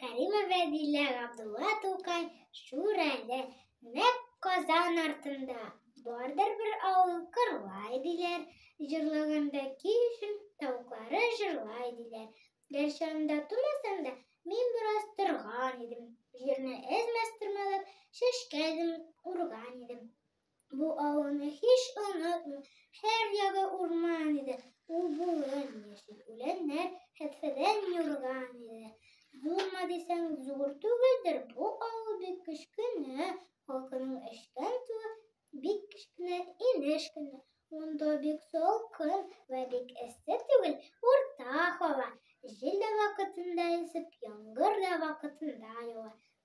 Кәримә Вәдилә Габдулла Тукай шур әле, нәк Казан артында. Бардыр бер авыл кырлай диләр, җырлыгында кишем тавыклары җырлай диләр. Гәрчә анда тумасам да, мин бераз торган идем. Җирне әз-мәз тырмалап, чәчкә эзем урган идем. Бу авылны һич онытмыйм. Һәр ягы урман иде. Ул болын, яшел үләннәр, хәтфәдән юрган иде. Зурмы дисәң, зур түгелдер, бу авыл бик кечкенә. Халкының эчкән суы бик кечкенә, инеш кенә. Монда бик салкын вә бик эссе түгел, урта һава. Җил дә вакытында исеп, яңгыр да вакытында ява.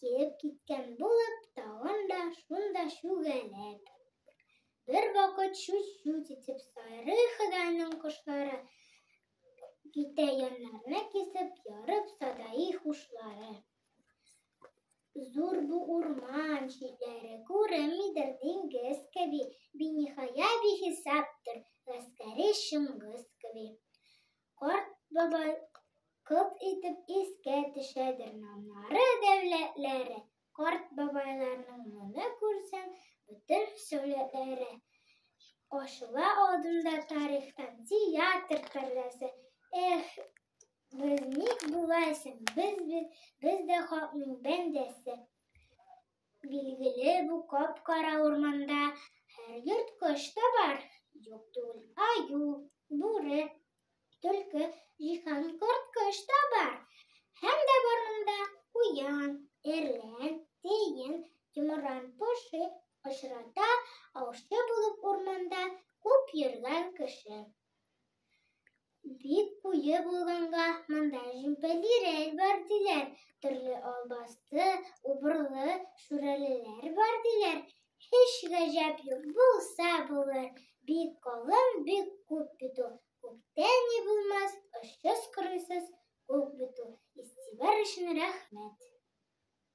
Килеп киткән булып, тагын да шунда чүгәләп. Бер вакыт чүт-чүт итеп сайры Ходайның кошлары китә яннарны кисеп, ярып садаи хушлары. Зур бу урман читләре күренмидер диңгез кеби, биниһая бихисаптыр гаскәри Чыңгыз кеби. Карт бабай күп итеп искә төшәдер намнары дәүләтләре. Карт бабайларның моны күрсәң, бөтен сәүләтләре. Ачыла алдында тарихтан театр пәрдәсе. Эх, без ник болайсың, без, без, без дә халыкның бәндәсе. Билгеле, бу кап-кара урманда һәр йорт кош та бар. Юк түгел, аю, бүре, төлке, җиһан, корт кош та бар. Һәм дә бар монда куян, эрлән, тиен, йомран, поши, очрата, аучы булып урманда күп йөргән кеше. Бик куе булганга монда җөмпәлирәк бар диләр. Төрле албасты, убырлы, шүрәлеләр бар диләр. Һич гаҗәп юк, булса булыр. Бик калын, бик күп бит ул. Күктә ни булмас, очсыз-кырыйсыз күк бит ул. Истибар өчен рәхмәт.